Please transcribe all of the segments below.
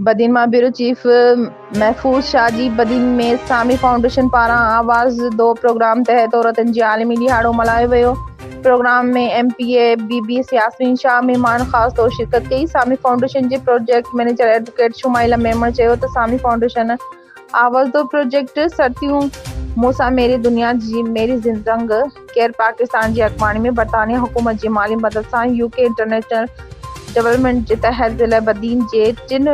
بدين مان bureau chief Mahfooz Shah جي بدين ۾ اسلامي فائونڊيشن پاران آواز دو پروگرام تحت عورتن جي عالمي ڏهاڙو ملهايو ويو programme ۾ M P A B B C Yasmin Shah مهمان خاص طور شرڪت ڪئي اسلامي فائونڊيشن جي project manager advocate Shumaila Memon چيو ته اسلامي فائونڊيشن آوازدو پروجيڪٽ سرتيون مون سان ميري دنيا جي ميري زند رنگ ڪير پاڪستان جي اڳواڻي ۾ برطانيه حڪومت جي مالي مدد سان يو ڪي انٽرنيشنل ڊولپمينٽ جي تحت ضلع بدين جي ٽن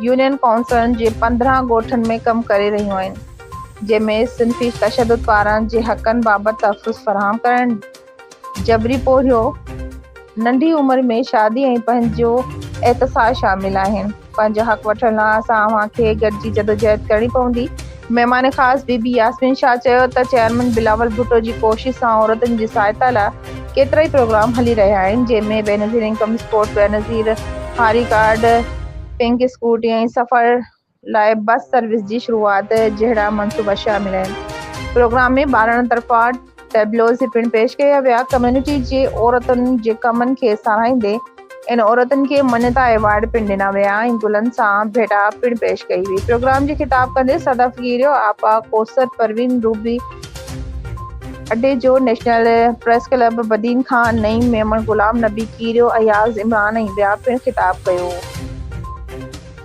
يونين ڪائونسلن جي پندرهن ڳوٺن ۾ ڪم ڪري رهيون آهن جنهن ۾ صنفي تشدد ٻارن جي حقن بابت تحفظ فراهم ڪرڻ جبري پورهيو، ننڍي عمر ۾ شادي ۽ پنهنجو احتساب شامل آهن. پنهنجو حق وٺڻ لاء اسان اوهان کي گڏجي جدوجهد ڪرڻي پوندي. مهمان خاص بي بي ياسمين شاهه چيو ته چيئرمين بلاول ڀٽو جي ڪوشش سان عورتن جي سهائتا لاء ڪيترائي پروگرام هلي رهيا آهن جنهن ۾ بينظير انڪم سپورٽ، بينظير هاري ڪارڊ، پنڪ اسڪوٽي ۽ سفر، لاء بس سروس جي شروعات جهڙا منصوبا شامل آهن. پروگرام ۾ ٻارڙن طرفان ٽيبلوز پڻ پيش ڪيا ويا. ڪميونٽي جي عورتن جي ڪمن کي ساراهيندي ان عورتن کي مڃتا ايوارڊ پڻ ڏنا ويا ۽ گلن سان ڀيٽا پڻ پيش ڪئي وئي. پروگرام جي خطاب ڪندي سدا فقيريو، آپا ڪوثر پروين، روبي اڊي جو، national press club Badin Khan, Naeem Memon, Ghulam Nabi Kerio, Ayaz Imran ۽ ٻيا پڻ خطاب ڪيو.